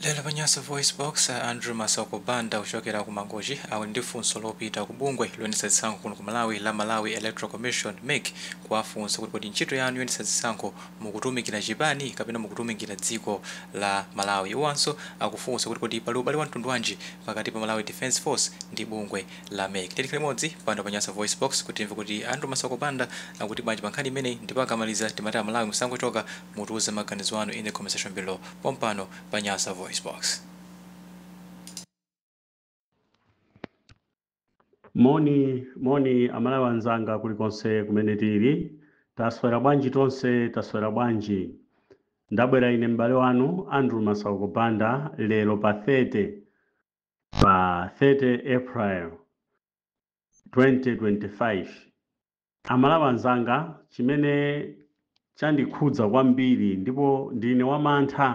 Lero pa Nyasa VoiceBox, a Andrew Masauko Banda kuchokera ku Mangochi ali ndi funso lopita ku bungwe loyendetsa zisankho kuno ku Malawi la Malawi Electoral Commission, mec, kuwafunsa kuti kodi ntchito yanu yoyendetsa zisankho mukutumikira chipani kapena mukutumikira dziko la Malawi? Iwowanso akufunsa kuti kodi pali ubale wamtundu wanji pakati pa Malawi Defence Force ndi bungwe la mec? Tiyeni tikhale limodzi pano pa Nyasa VoiceBox kuti timve kuti a Andrew Masauko Banda akuti bwanji pa nkhani imeneyi ndipo akamaliza timati a Malawi musangochoka Mutiuze maganizo anu in the comment section below pompano pa Nyasa VoiceBox. Moni moni amalawi anzanga kulikonse kumene tili taswera bwanji tonse taswera bwanji ndabwera ine m'bale wanu andrew masauko banda lero pa 30 pa 30 april 2025 Amalawi anzanga, chimene chandikhudza kwambiri ndipo ndine wamantha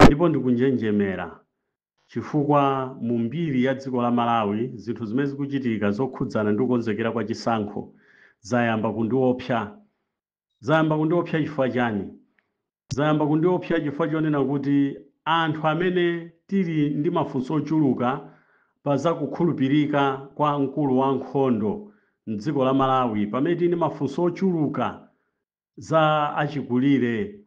ndipo ndikunjenjemera chifukwa mu mbiri ya dziko la Malawi zinthu zimene zikuchitika zokhudzana ndi kukonzekera kwa chisankho zayamba kundiopsa Zayamba kundiopsa chifukwa chani? Zayamba kundiopsa chifukwa chonena kuti anthu amene tili ndi mafunso ochuluka pa za kukhulupirika kwa mkulu wa nkhondo m'dziko la Malawi, pamene tili ndi mafunso ochuluka za achikulire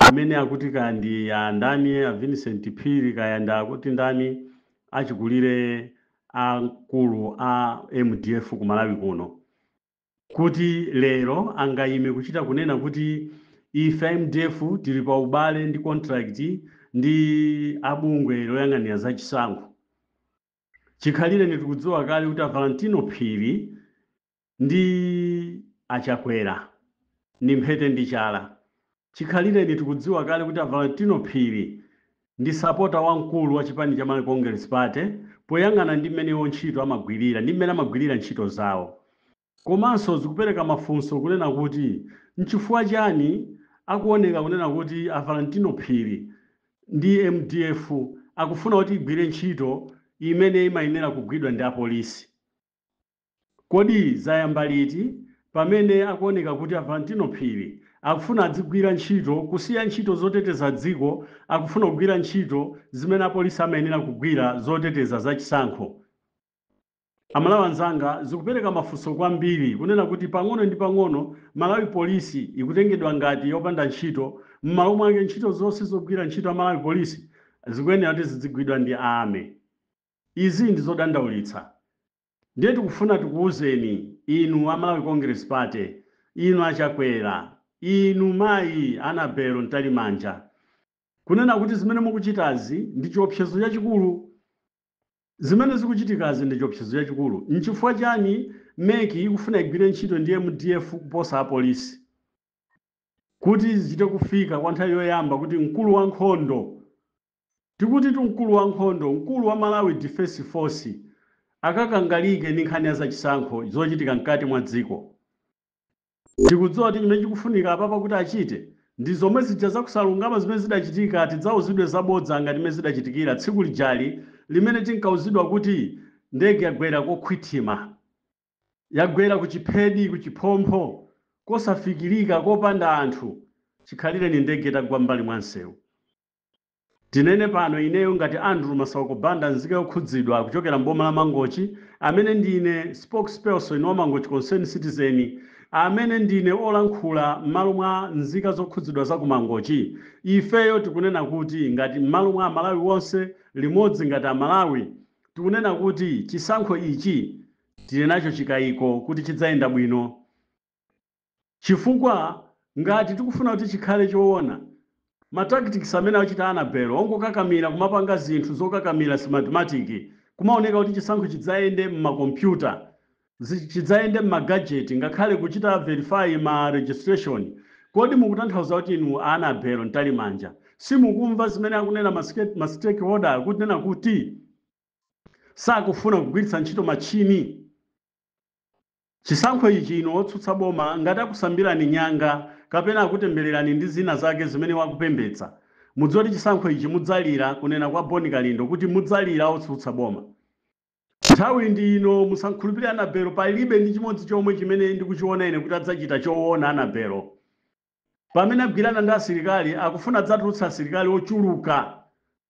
amene akuti kaya ndi a ndani a Vincent Phiri kaya ndi akuti ndani achikulire a mkulu a mdf ku Malawi kuno. kuti lero angaime kuchita kunena kuti ife a mdf tili pa ubale ndi contract ndi a bungwe loyang'anira za chisankho. Chikhalireni tikudziwa kale kuti a Valentino Phiri ndi a Chakwera ndi mphete ndi chala. Chikhalireni tikudziwa kale kuti a Valentino Phiri ndi sapota wamkulu wa chipani cha Malawi Congress Party poyang'ana ndi mmene iwo ntchito amagwirira ndi mmene amagwirira ntchito zawo. Komanso zikupereka mafunso kunena kuti nchifukwa chani akuoneka kunena kuti a Valentino Phiri ndi mdf akufuna kuti igwire ntchito imene imayenera kugwidwa ndi apolisi. Kodi zayamba liti pamene akuoneka kuti a Valentino Phiri akufuna adzigwira ntchito kusiya ntchito zoteteza dziko akufuna kugwira ntchito zimene apolisi amayenera kugwira zoteteza za chisankho? Amalawi anzanga zikupereka mafunso kwambiri kunena kuti pang'ono ndi pang'ono Malawi Police ikutengedwa ngati yopanda ntchito mmalo mwake ntchito zonse zogwira ntchito a Malawi Police zikuyenera kuti zidzigwidwa ndi Army. Izi ndi zodandaulitsa. Ndiye tikufuna tikuuzeni inu a Malawi Congress Party, inu a Chakwera, inu mayi Annabel Mtalimanja kunena kuti zimene mukuchitazi ndi chiopsezo chachikulu. Zimene zikuchitikazi ndi chiopsezo chachikulu. N'chifukwa chiyani MEC ikufuna igwire ntchito ndi MDF kuposa apolisi kuti zichite kufika kwa nthawi yoyamba kuti mkulu wa nkhondo Tikutitu mkulu wa nkhondo, mkulu wa Malawi Defence Force akakangalike ndi nkhani ya zachisankho zochitika mkati mwa dziko. Tikudziwa kuti chimene chikufunika apapa kuti achite ndi zomwe zija za kusalungama zimene zidachitika tidzauzidwe zabodza ngati mmene zidachitikira tsiku lijali limene tinkauzidwa kuti ndege yagwera kokhwithima, yagwera ku chiphedi ku chiphompho kosafikirika, kopanda anthu, chikhalireni ndege itagwa m'mbali mwa msewu. Tinene pano ineyo ngati Andrew Masauko Banda nzika yokhudzidwa kuchokera m'boma la Mangochi amene ndine spokesperson wa Mangochi Concerned Citizen amene ndine olankhula m'malo mwa nzika zokhudzidwa za ku Mangochi ifeyo tikunena kuti ngati m'malo mwa Amalawi onse limodzi ngati Amalawi tikunena kuti chisankho ichi tili nacho chikayiko kuti chidzayenda bwino Chifukwa ngati tikufuna kuti chikhale choona, ma tactics amene achita Annabel ongokakamira kumapanga zinthu zokakamira Smartmatic kumaoneka kuti chisankho chidzayende m'ma computer, chidzayende m'ma gadget ngakhale kuchita verify ma registration, kodi mukutanthauza kuti inu a Annabel Mtalimanja simukumva zimene akunena ma stakeholder akunena kuti sakufuna kugwiritsa ntchito matchini? Chisankho ichi inu otsutsa boma ngati akusambirani nyanga kapena akutembererani ndi zina zake zimene wakupembedza mudziwe kuti chisankho ichi mudzalira kunena kwa Bon Kalindo kuti mudzalira otsutsa boma nthawi ndi ino musamukhulupirire Annabel palibe ndi chimodzi chomwe chimene ndikuchiona ine kuti adzachita chowona Annabel pamene agwirana ndi asilikali akufuna adzatulutse asilikali ochuluka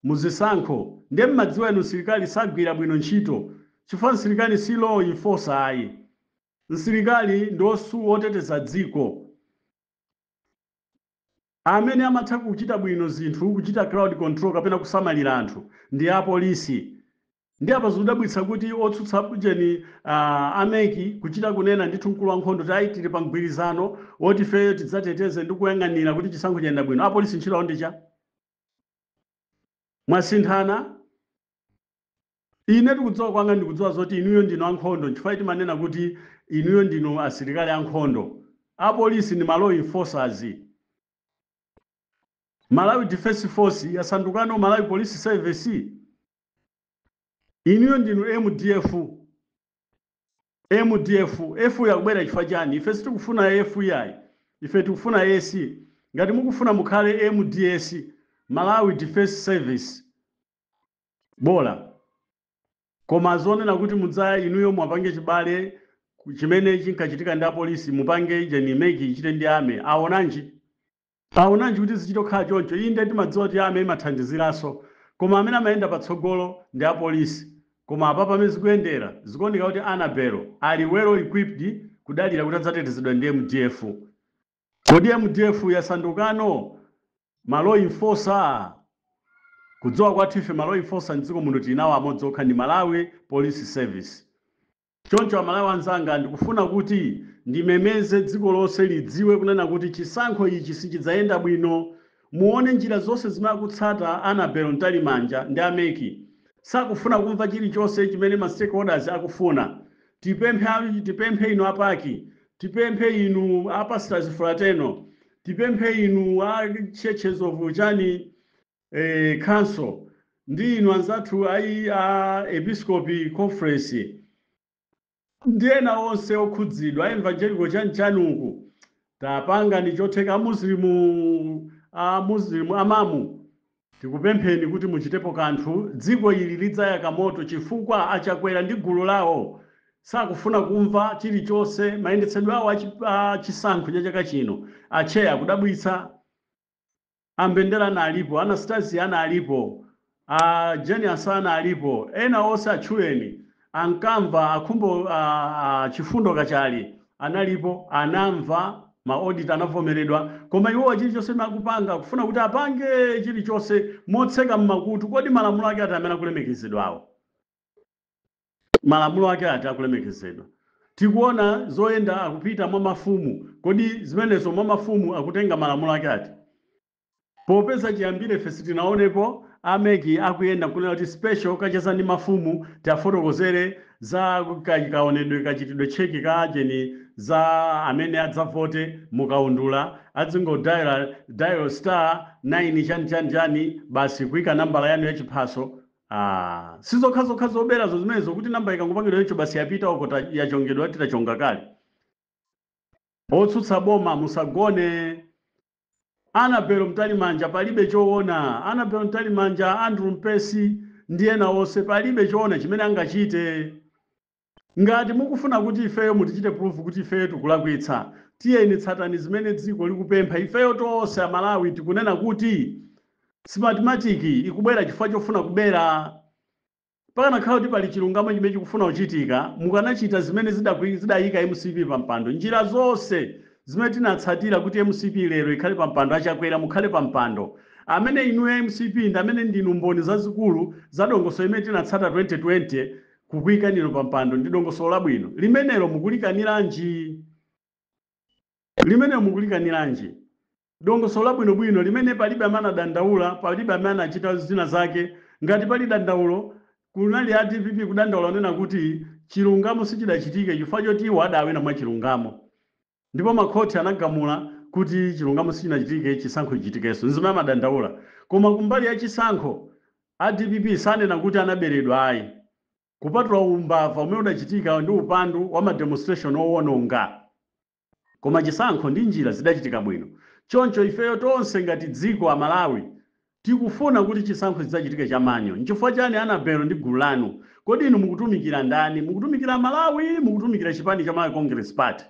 muzisankho ndiye mmadziwa inu msilikali sagwira bwino ntchito chifukwa msilikali si law enforcer ayi msilikali ndi osu oteteza dziko amene amatha kuchita bwino zinthu kuchita crowd control kapena kusamalira anthu ndi apolisi Ndi apa zikudabwitsa kuti otsutsa ujeni a MEC kuchita kunena ndithu mkulu wa nkhondo kuti ayi tili pa mgwirizano woti ifeyo tidzateteze ndi kuyang'anira kuti chisankho chiyenda bwino apolisi ntchito yawo ndi cha mwasinthana ine kudziwa kwanga ndikudziwa zoti inuyo ndinu ankhondo nchifukwa timanena kuti inuyo ndinu asilikali ankhondo apolisi ndi ma law enforcers Malawi Defence Force yasandukano Malawi Police Service inuyo ndinu mdf mdf f yakubwera chifukwa chani ife sitikufuna f iyayi ife tikufuna s ngati mukufuna mukhale mds malawi defense service bola koma zonena kuti mudza inuyo mwapange chibale ku- chimene chinkachitika ndi apolisi mupange ujeni meki ichite ndi ame awonanji Awonanji kuti zichito kukhala choncho? Inde, timadziwa kuti army imathandiziranso, koma amene amayenda patsogolo ndi apolisi. Koma apapa pamene zikuyendera, zikuoneka kuti Annabel ali well equipped kudalira kuti adzatetezedwa ndi mdf. Kodi mdf yasandukano ma law enforcer? Kudziwa kwathu ife ma law enforcer mdziko muno tili nawo amodzi okha ndi Malawi Police Service. Choncho Amalawi anzanga ndikufuna kuti ndimemeze dziko lonse lidziwe kunena kuti chisankho ichi sichidzayenda bwino. Muone njira zonse zimene akutsata Annabel Mtalimanja ndi a mec. Sakufuna kumva chilichonse chimene ma stakeholders akufuna. Tipemphe a tipemphe inu a pac, tipemphe inu a Pastors Fraternal, tipemphe inu a Churches of chani. eh, council ndi inu anzathu ayi a episcopi conference ndi ena onse okhudzidwa a evangelical chanichani uku tapangani chotheka amuslimu amuslimu amamu tikupempheni kuti muchitepo kanthu dziko ili lidzayaka moto chifukwa achakwera ndi gulu lawo sakufuna kumva chilichonse mayendetsedwe awo a chi- a chisankho cha chaka chino atcheya akudabwitsa a Mbendera analipo, a Anastasia analipo, a Jane Ansah analipo, ena onse atchuleni, ankamva, a Khumbo, a, a Chifundo Kachale analipo, anamva, ma auditor anavomeredwa, koma iwowa chilichonse chimene akupanga akufuna kuti apange chilichonse motseka m'makutu. Kodi malamulo ake ati amene akulemekezedwawo? malamulo ake ati akulemekezedwa? Tikuona zoyenda akupita mwa mafumu, kodi zimenezo mwa mafumu akutenga malamulo ake ati? Popeza chiyambire ife sitinaonepo a mec akuyenda nkunena kuti special kacheza ndi mafumu tiafotokozere za ka kaonedwe kachitidwe kake ka ujeni za amene adzavote mu kaundula, adzingo dial star, 9 chani chani chani basi kuika nambala yanu ya chiphaso, Aaa sizokhazokha zoberazo zimenezo kuti number ikangopangidwa choncho basi yapita uko yachongedwa ati tachonga kale. Otsutsa boma musagone. Annabel Mtalimanja palibe choona. Annabel Mtalimanja, Andrew Mpesi ndi ena onse palibe choona chimene angachite. Ngati mukufuna kuti ifeyo mutichite prove kuti ifeyo tikulakwitsa tiyeni tsatani zimene dziko likupempha ifeyo tonse amalawi tikunena kuti smartmatic ikubwera chifukwa chofuna kubera. Pakanakhala kuti pali chilungamo chimene chikufuna kuchitika mukanachita zimene zidayika mcp pampando njira zonse zimene tinatsatira kuti mcp lero ikhale pampando achakwera mukhale pampando amene inuyo amcp ndi amene ndinu mboni zazikulu za dongosolo limene tinatsata 2020 kukuikani inu pa mpando ndi dongosolo labwino limenelo mukulikaniranji? Dongosolo labwino bwino limene palibe amene anadandaula, palibe amene anachita zina zake, ngati pali dandaulo, kunali a dpp kudandaula kunena kuti chilungamo sichidachitike chifukwa choti iwo adawina mwachilungamo. Ndipo makhoti anagamula kuti chilungamo sichinachitike, chisankho chichitikenso. N'zimene amadandaula. Koma kumbali ya chisankho, a dpp sanena kuti anaberedwa ayi, kupatula umbava umene udachitika ndi upandu wa ma demonstration owononga. Koma chisankho ndi njira zidachitika bwino. Choncho ifeyo tonse ngati dziko, Amalawi, Tikufuna kuti chisankho chidzachitike cha manual. Nchifukwa chani Anabel ndi gulu lanu? Kodi inu mukutumikira ndani? Mukutumikira Amalawi? Mukutumikira chipani cha Malawi Congress Party?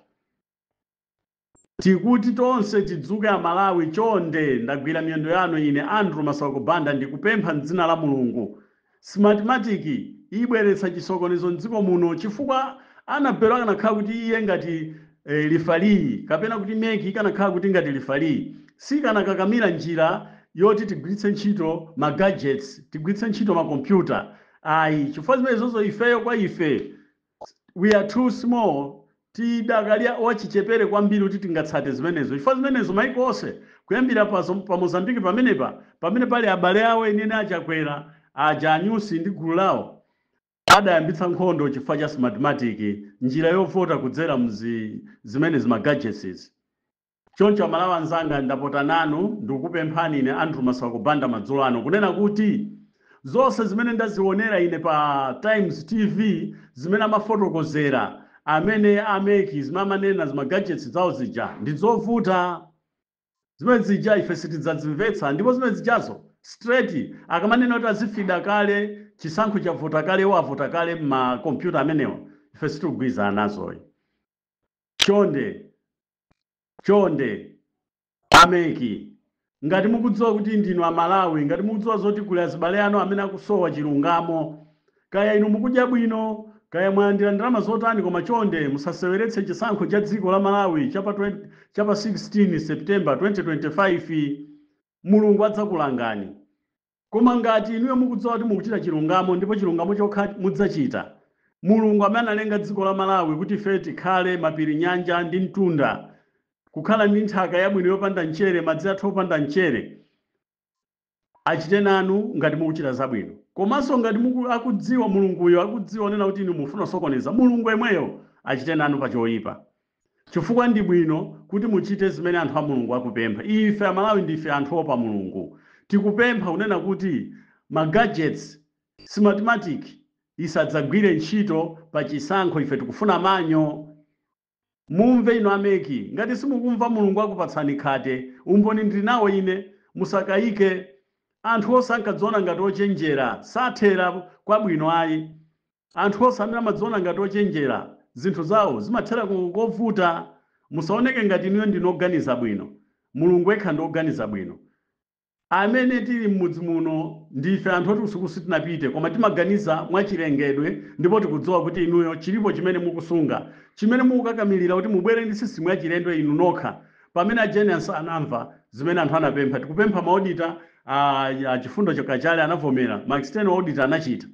Tikuti tonse tidzuke Amalawi chonde ndagwira miyendo yanu ine Andrew Masauko Banda ndikupempha m'dzina la Mulungu Smartmatic ibweretsa chisokonezo m'dziko muno chifukwa Anabelo akanakhala kuti iye ngati lifaliyi kapena kuti mec ikanakhala kuti ngati lifaliyi sikanakakamira njira yoti tigwiritse ntchito ma gadgets tigwiritse ntchito makompyuta ayi chifukwa zimenezozo ifeyo kwa ife We are too small, Tidakali a, wachichepere kwambiri kuti tingatsate zimenezo. Chifukwa zimenezo maiko onse, kuyambira pa Mozambique pamenepa, pamene pali abale awo enieni a Chakwera aja, a Nyusi ndi gulu lawo, adayambitsa nkhondo chifukwa cha Smartmatic, njira yovota kudzera m'zimenezi ma gadgets izi. Choncho amalawi anzanga ndapota nanu ndikupemphani ine Andrew Masauko Banda madzulo ano kunena kuti zonse zimene ndazionera ine pa Times TV zimene amafotokozera amene a mec zimene amanena zima gadgets zawo zija ndizovuta zimene zija ife sitidzazimvetsa ndipo zimene zijazo straight akamanena kuti azifida kale chisankho chavota kale iwo avota kale mma computer amenewa ife sitikugwirizana nazoyi chonde chonde a mec ngati mukudziwa kuti ndinu a Malawi, ngati mukudziwa zoti kuli azibale anu amene akusowa chilungamo, kaya inu mukudya bwino, kaya mwalandira ndalama zotani koma chonde musaseweretse chisankho cha dziko la Malawi cha pa 16 September 2025. Mulungu adzakulangani. Koma ngati inuyo mukudziwa kuti mukuchita chilungamo ndipo chilungamo chokha mudzachita, Mulungu amene analenga dziko la Malawi kuti ife tikhale, mapiri, nyanja ndi mtunda, kukhala ndi nthaka yabwino yopanda mchere, madzi athu opanda mchere, achite nanu ngati mukuchita zabwino. Komanso ngati akudziwa, Mulunguyo akudziwa kunena kuti inu mufuna kusokoneza, Mulungu yemweyo achite nanu pa choipa. Chifukwa ndi bwino kuti muchite zimene anthu a Mulungu akupempha. Ife Amalawi ndife anthu oopa Mulungu. Tikupempha kunena kuti ma gadgets, Smartmatic isadzagwire ntchito pa chisankho ife tikufuna manual. Mumve inu a MEC ngati simukumva Mulungu akupatsani khate. Umboni ndili nawo ine. Musakayike. Anthu onse ankadziona ngati ochenjera sathera kwabwino ayi. Anthu onse amene amadziona ngati ochenjera, zinthu zawo zimathera kovuta. Musaoneke ngati inuyo ndinu oganiza bwino. Mulungu yekha ndi oganiza bwino. Amene tili mmudzi muno ndife anthu oti kusukulu sitinapite koma timaganiza mwa chilengedwe ndipo tikudziwa kuti inuyo chilipo chimene mukusunga chimene mukukakamilira kuti mubwere ndi system yachilendo inu nokha pamene a Jane Ansah anamva zimene anthu anapempha tikupempha ma auditor a a Chifundo Kachale anavomera ma external auditor anachita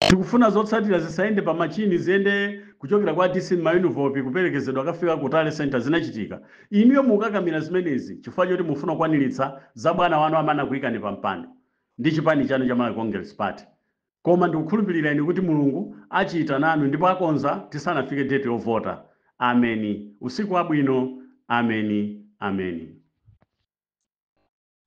Tikufuna zotsatira zisayende pa machine ziyende kuchokera kwa DC mma envelopu kupelekezedwa kukafika ku tally centre zinachitika. Inuyo mukukakamira zimenezi chifukwa choti mufuna kukwanilitsa za bwana wanu amene anakuyikani pa mpando ndi chipani chanu cha Malawi Congress Party. Koma ndikukhulupilira ine kuti Mulungu achita nanu ndipo akonza tisanafike date yovota. Ameni. Usiku wabwino. Ameni. Ameni.